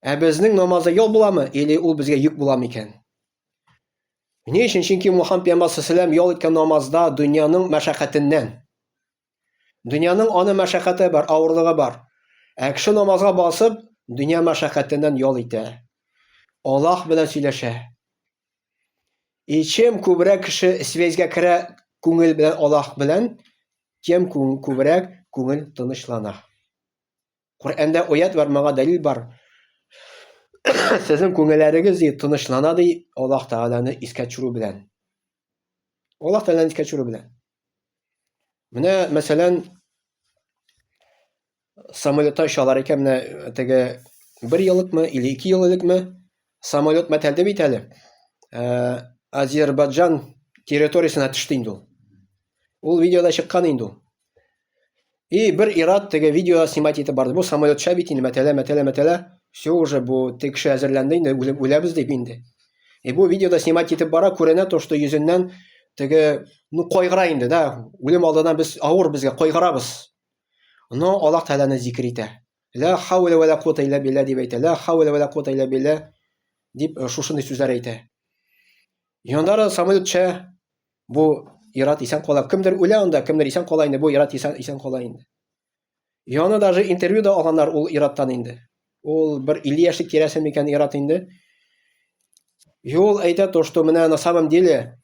Ә безнең намазда ял буламы, или ул безгә йөк буламы икән? Ни өчен? Чөнки Мухаммад пәйгамбәр саллаллаху ял иткән намазда дөньяның мәшәкатеннән. Дөньяның аны мәшәкате бар, авырлыгы бар. Ә кеше намазга басып, дөнья мәшәкатеннән ял итә. Аллаһ белән сөйләшә. И чем күбрәк кеше связьгә керә күңел белән Аллаһ белән, тем күбрәк күңел тынычлана. Коръәндә оят бар, моңа дәлил бар. Сезнең күңелләрегез ди тынычлана ди Аллаһ Тәгаләне искә төшерү белән. Аллаһ Тәгаләне искә төшерү белән. Менә, мәсәлән, самолетта очалар икән, менә теге бер елыкмы или ике ел элекме Самолет мәтәлде бит әле. Э, Азербайджан территориясенә төште инде ул. Ул видеода чыккан инде ул. И бер ират теге видео снимать итеп барды. Бу самолетча бит инде мәтәлә, мәтәлә, мәтәлә. Все уже бу теге кеше әзерләнде инде, үләбез дип инде. И бу видеода снимать итеп бара, күренә то, что йөзеннән теге, ну, кайгыра инде, да. Үлем алдына без авыр безгә кайгырабыз. Но Аллах Тәгаләне зикер итә. Лә хәүлә вә лә куата илля билля дип әйтә. Лә хәүлә вә лә куата илля билля дип э, шушындый сүзләр әйтә. Яннары самолет төшә, бу ират исән кала. Кемдер үлә анда, кемдер исән кала инде, бу ират исән, исән кала инде. Яны даже интервью да алганнар ул ираттан инде. Ул бер 50 яшьлек тирәсе микән ират инде. И ул әйтә то, что менә на самом деле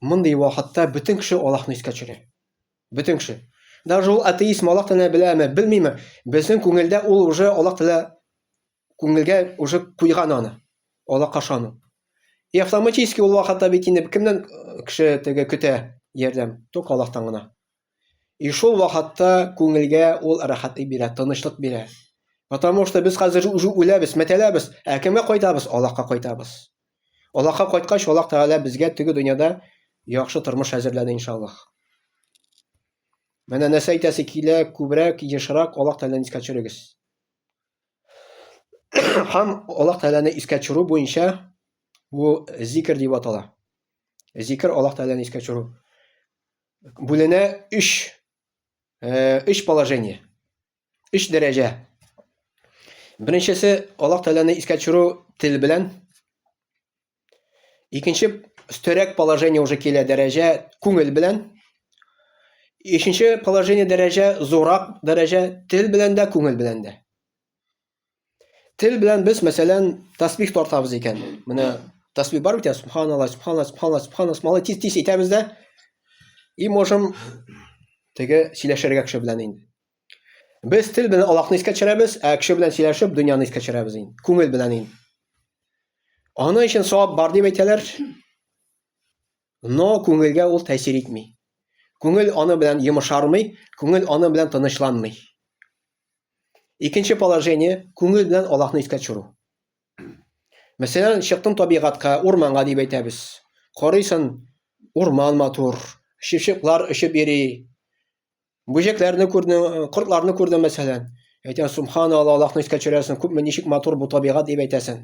мондый вакытта бөтен кеше Аллаһны искә төшерә. Бөтен кеше. Даже ул атеист Аллаһ Тәгалә беләме, белмиме, безнең күңелдә ул уже Аллаһ Тәгалә күңелгә уже куйган аны. Аллаһка ышану. И автоматически ул вакытта бит инде кемнән э, кеше теге көтә ярдәм? Только Аллаһтан гына. И шул вакытта күңелгә ул рәхәтлек бирә, тынычлык бирә. Потому что без хәзер уже үләбез, мәтәләбез, ә кемгә кайтабыз? Аллаһка кайтабыз. Аллаһка кайткач, Аллаһ Тәгалә безгә теге дөньяда яхшы тормыш әзерләде иншаллаһ. Менә нәрсә әйтәсе килә, күбрәк, ешрак Аллаһ Тәгаләне искә төшерегез. Һәм Аллаһ Тәгаләне искә төшерү буенча бу зикр дип атала. Зикр Аллаһ Тәгаләне искә төшерү. Бүленә 3 3 э, положение. Өч дәрәҗә. Беренчесе Аллаһ Тәгаләне искә төшерү тел белән. Икенче өстәрәк положение уже килә дәрәҗә күңел белән. Өченче положение дәрәҗә зурак дәрәҗә тел белән дә, күңел белән дә. Тел белән без, мәсәлән, тәсбих тартабыз икән. Менә тәсбих бар бит, субханалла, субханалла, субханалла, субханалла, субханалла, тиз тиз әйтәбез дә. И можем теге сөйләшергә кеше белән инде. Без тел белән Аллаһны искә төшерәбез, ә кеше белән сөйләшеп, дөньяны искә төшерәбез инде. Күңел белән инде. Аны өчен савап бар дип әйтәләр. Но күңелгә ул тәэсир итми. Күңел аны белән йомышармый, күңел аны белән тынычланмый. Икенче положение, күңел белән Аллаһны искә төшерү. Мәсәлән, чыктың табигатька, урманга дип әйтәбез. Карыйсың, урман матур, шишеклар очып йөри. Бүҗәкләрне күрдең, кортларны күрдең мәсәлән. Әйтәсең, субханалла, Аллаһны искә төшерәсең, күпме ничек матур бу табигать дип әйтәсең.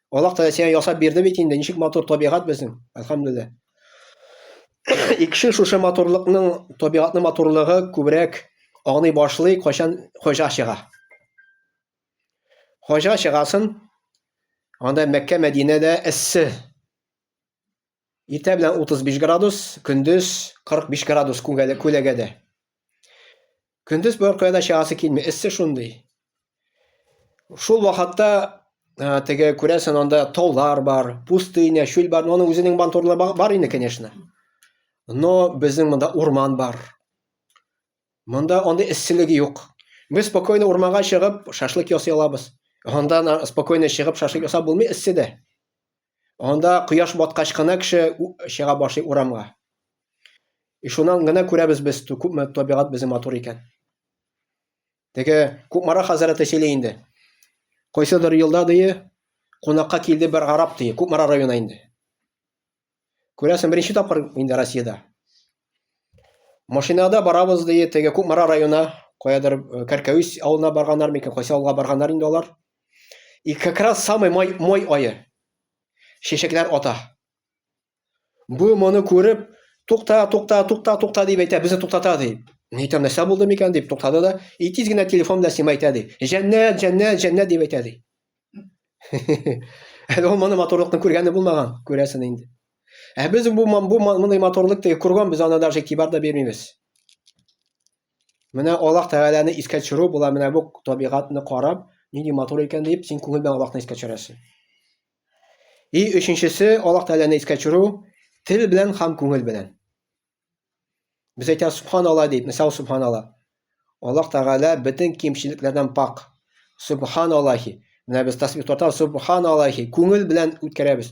Аллаһ Тәгалә сиңа ясап бирде бит инде, ничек матур табигать безнең. Әлхәмдүлилләһ. Икши шушы матурлыкның, табигатьнең матурлыгы күбрәк аңлый башлый, кайчан хаҗга чыга. Хаҗга чыгасын, анда Мәккә, Мәдинәдә эссе. Иртә белән 35 градус, көндез 45 градус күгәле күләгәдә. Көндез бер кая да чыгасы килми, эссе шундый. Шул вакытта э, теге күрәсен анда таулар бар, пустыня, чүл бар, но аның үзенең бантурлы бар инде, конечно. Но безнең монда урман бар. Монда андый эсселеге юк. Без спокойно урманга чыгып шашлык ясый алабыз. Анда спокойно чыгып шашлык ясап булмый эсседә. Анда кояш баткач кына кеше чыга башлый урамга. И шуннан гына күрәбез без, күпме табигать безнең матур икән. Теге Кукмара хәзрәте сөйли инде. Кайсыдыр елда дие, кунакка килде бер гарап дие, Кукмара районы инде. Күрәсең, беренче тапкыр инде Россиядә. Машинада барабыз дие, теге Кукмара районы, каядыр э, Кәркәвис авылына барганнар микән, кайсы авылга барганнар инде алар. И как раз самый май, мой айы. Чәчәкләр ата. Бу моны күреп, тукта, тукта, тукта, тукта дип әйтә, безне туктата ди. Ни әйтәм, нәрсә булды микән дип туктады да, и тиз генә телефон белән сиңа әйтә ди. Җәннәт, җәннәт, җәннәт дип әйтә ди. Әле ул моны матурлыкны күргәне булмаган, күрәсен инде. Ә без бу бу мондый матурлыкты күргән, без аны даже игътибар да бирмибез. Менә Аллаһ Тәгаләне искә төшерү була, менә бу табигатьне карап, нинди матур икән дип, син күңел белән Аллаһны искә төшерәсең. И өченчесе, Аллаһ Тәгаләне искә төшерү тел белән һәм күңел белән. Без әйтәбез субханалла дип, мисал субханалла. Аллаһ Тәгалә бөтен кимчелекләрдән пак. Субханаллахи. Менә без тасбих тотабыз, субханаллахи. Күңел белән үткәрәбез.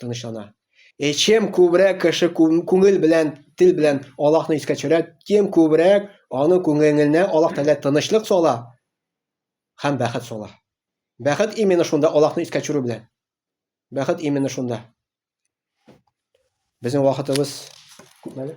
тынычлана. Е чем күбрәк кеше күңел белән, тел белән Аллаһны искә төшерә, тем күбрәк аның күңеленә Аллаһ Тәгалә тынычлык сала һәм бәхет сала. Бәхет именно шунда Аллаһны искә төшерү белән. Бәхет именно шунда. Безнең вакытыбыз күпмәле?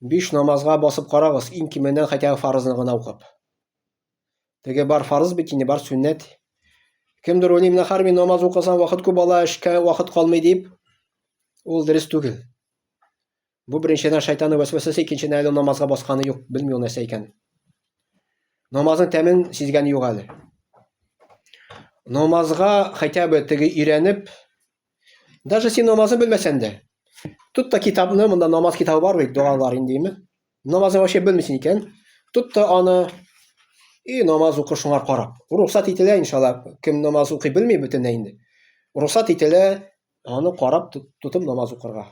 Биш намазга басып карагыз, иң кименнән хәтәгә фарызны гына укып. Теге бар фарыз бит инде, бар сүннәт. Кемдер уйлый, менә хәрби намаз укысан вакыт күп ала, эшкә вакыт калмый дип. Ул дөрес түгел. Бу беренчедән шайтаны вәсвәсәсе, икенчедән әле намазга басканы юк, белми ул нәрсә икән. Намазның тәмен сизгәне юк әле. Намазга хәтәбе теге өйрәнеп, Даже син намазын белмәсән дә. Тот та китапны, монда намаз китабы бар бит, догалар индеме? Намазын вообще белмисең икән. Тот та аны и намаз укы шуңа карап. Рухсат ителә иншалла. Кем намаз укый белми бөтенләй инде. Рухсат ителә аны карап тотып намаз укырга.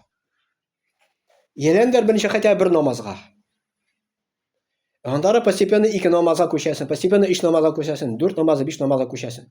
Елендер берничә хәтта бер намазга. Андары постепенно ике намазга күчәсен, постепенно иш намазга күчәсен, дүрт намазы, биш намазга күчәсен.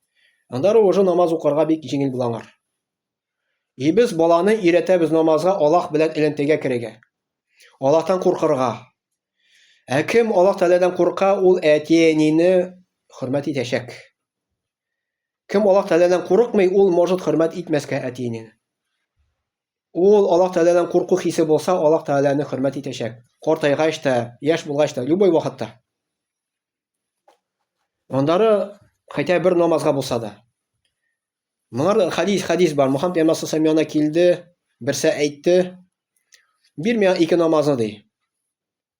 Анда рожа намаз укырга бик җиңел була аңар. И без баланы өйрәтәбез намазга Аллаһ белән элемтәгә керергә. Аллаһтан куркырга. Ә кем Аллаһ Тәгаләдән курка, ул әти-әнине хөрмәт итәчәк. Кем Аллаһ Тәгаләдән курыкмый, ул может хөрмәт итмәскә әти-әнине. Ул Аллаһ Тәгаләдән курку хисе булса, Аллаһ Тәгаләне хөрмәт итәчәк. Картайгач та, яшь булгач та, любой вакытта. Аннары хәтта бер намазга булса да. Моңар хадис хадис бар. Мухаммед пәйгамбәр сәмиана килде, берсә әйтте, бир миңа ике намазны ди.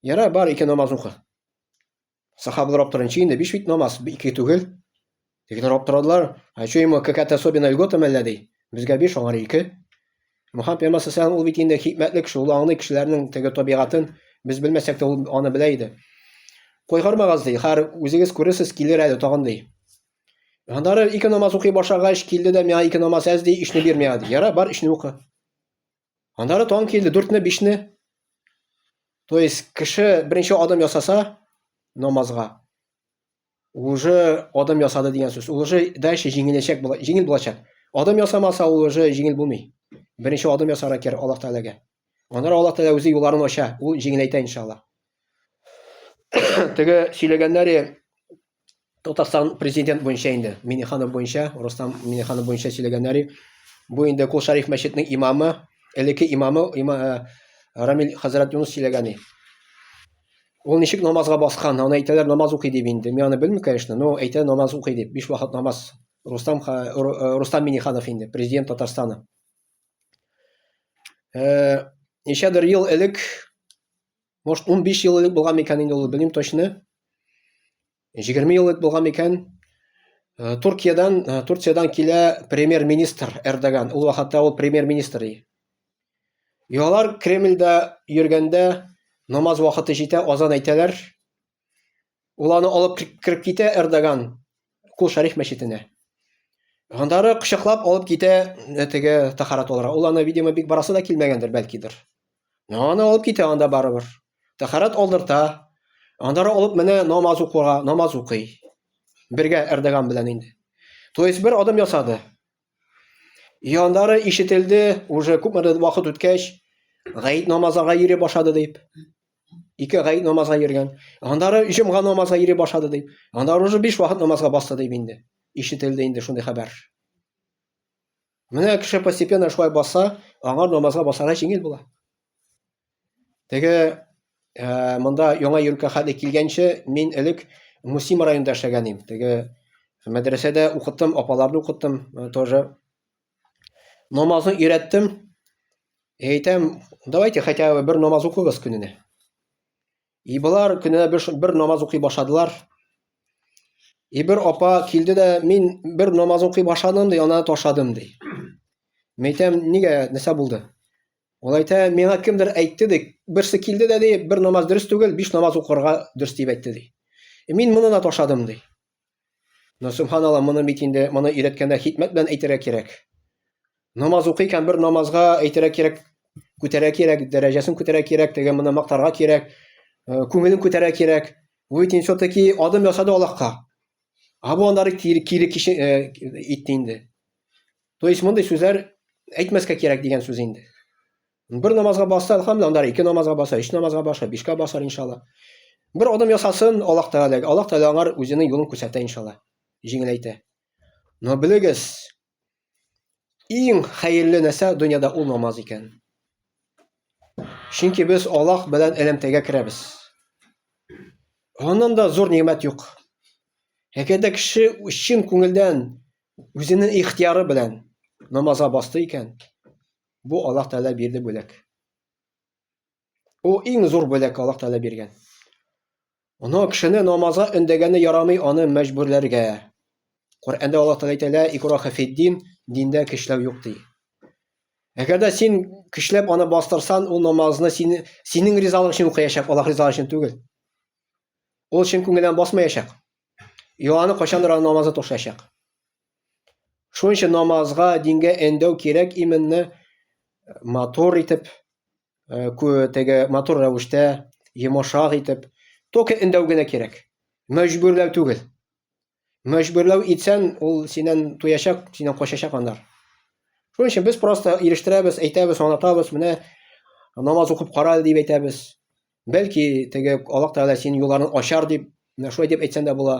Яра бар ике намаз укы. Сахабалар аптырынчы инде, биш бит намаз, ике түгел. Тегеләр аптырадылар, а что ему какая-то особенная льгота мәллә ди. Безгә биш, аңар ике. Мөхәммәд пәйгамбәр саллаллаху ул бит инде хикмәтле кеше, ул аңлый кешеләрнең теге табигатын, без белмәсәк тә ул аны белә иде. Кайгырмагыз ди, хәр үзегез күрерсез, килер әле тагын ди. Аннары ике намаз укый башлагач, килде дә миңа ике намаз әз ди, ишне бирмә ди. Яра, бар ишне укы. Аннары таң килде, дүртне, бишне. То есть кеше беренче адым ясаса намазга, уже адым ясады дигән сүз. Ул уже дальше җиңеләчәк була, җиңел булачак. Адым ясамаса, ул уже җиңел булмый. Беренче адым ясарга кирәк Аллаһ Тәгаләгә. Аннары Аллаһ Тәгалә үзе юлларын ача, ул җиңеләйтә иншаллаһ. Теге сөйләгәннәре Татарстан президент буенча инде Миниханов буенча, Рустам Миниханов буенча сөйләгәннәр. Бу инде Кул Шариф мәчетенең имамы, элекке имамы има, э, Рамил хәзрәт Юнус сөйләгән. Ул ничек намазга баскан? Аны әйтәләр намаз укый дип инде. Мин аны белмим, конечно, но әйтә намаз укый дип. Биш вакыт намаз. Рустам э, Рустам Миниханов инде, президент Татарстаны. Э, ничәдер ел элек Может, 15 ел элек булган микән инде ул, белмим точно. 20 ел элек булган микән. Э, Туркиядан, э, Турциядән килә премьер-министр Эрдоган. Ул вакытта ул премьер-министр иде. Ялар Кремльдә йөргәндә намаз вакыты җитә, азан әйтәләр. Ул аны алып кереп китә Эрдоган Кул Шариф мәчетенә. Гандары кочаклап алып китә э, теге тахарат алырга. Ул аны, видимо, бик барасы да килмәгәндер, бәлкидер. Но аны алып китә анда барыбер. Тахарат алдырта. Андары алып менә намаз укуга, намаз укый. Бергә Эрдоган белән инде. То есть бер адым ясады. И аннары ишетелде, уже күпмедер вакыт үткәч, гает намазларга йөри башлады дип. Ике гает намазга йөргән. Аннары җомга намазга йөри башлады дип. Аннары уже биш вакыт намазга басты дип инде. Ишетелде инде шундый хәбәр. Менә кеше постепенно шулай баса, аңа намазга басарга җиңел була. Теге ә, монда яңа йөркә хәтле килгәнче мин элек Мусима районында эшләгән идем. Теге мәдрәсәдә укыттым, апаларны укыттым э, тоже. Намазны өйрәттем. Әйтәм, давайте хотя бы бер намаз укыгыз көненә. И болар көнә бер, бер намаз укый башладылар. И бер апа килде дә, мин бер намаз укый башладым, ди, ана ташладым, ди. Мин әйтәм, нигә, нәрсә булды? Ул әйтә, миңа кемдер әйтте, ди, берсе килде дә, ди, бер намаз дөрес түгел, биш намаз укырга дөрес дип әйтте, ди. И мин моны да ташладым, ди. Но, субханалла, моны бит инде, моны өйрәткәндә хикмәт белән әйтергә кирәк. Намаз укый икән, бер намазга әйтергә кирәк, күтәрә кирәк, дәрәҗәсен күтәрә кирәк, теге моны мактарга кирәк, э, күңелен күтәрә кирәк. Бу бит инде все-таки адым ясады Аллаһка. А бу аннары кире кеше э, итте инде. То есть мондый сүзләр әйтмәскә кирәк дигән сүз инде. Бер намазга басса, әлхәмдулилла, анда ике намазга баса, өч намазга баса, бишкә басар иншалла. Бер адым ясасын Аллаһ Тәгаләгә. Аллаһ Тәгалә аңар үзенең юлын күрсәтә иншалла. Җиңеләйтә. Но белегез, иң хәерле нәрсә дөньяда ул намаз икән. Чөнки без Аллаһ белән элемтәгә керәбез. Аннан да зур нимәт юк. Әгәр дә кеше чын күңелдән үзенең ихтияры белән намазга басты икән, Бу Аллаһ Тәгалә бирде бүләк. Ул иң зур бүләк Аллаһ Тәгалә биргән. Аны кешене намазга өндәгәне ярамый, аны мәҗбүрләргә. Коръәндә Аллаһ Тәгалә әйтә: "Ла икраха фиддин", диндә көчләү юк ди. Әгәр дә син көчләп аны бастырсан, ул намазны син синең ризалык өчен укыячак, Аллаһ ризалыгы өчен түгел. Ул чын күңелдән басмаячак. И аны кайчандыр аны намазы тошачак. Шуның өчен намазга, дингә әндәү кирәк именне э, матур итеп, э, теге матур рәвештә, йомышак итеп, только әндәү генә кирәк. Мәҗбүрләү түгел. Мәҗбүрләү итсән, ул синен туячак, синен качачак аннар. Шуның өчен без просто ирештерәбез, әйтәбез, анатабыз, менә намаз укып кара дип әйтәбез. Бәлки, теге Аллаһ Тәгалә синең юлларын ачар дип, менә шулай дип әйтсәң дә була.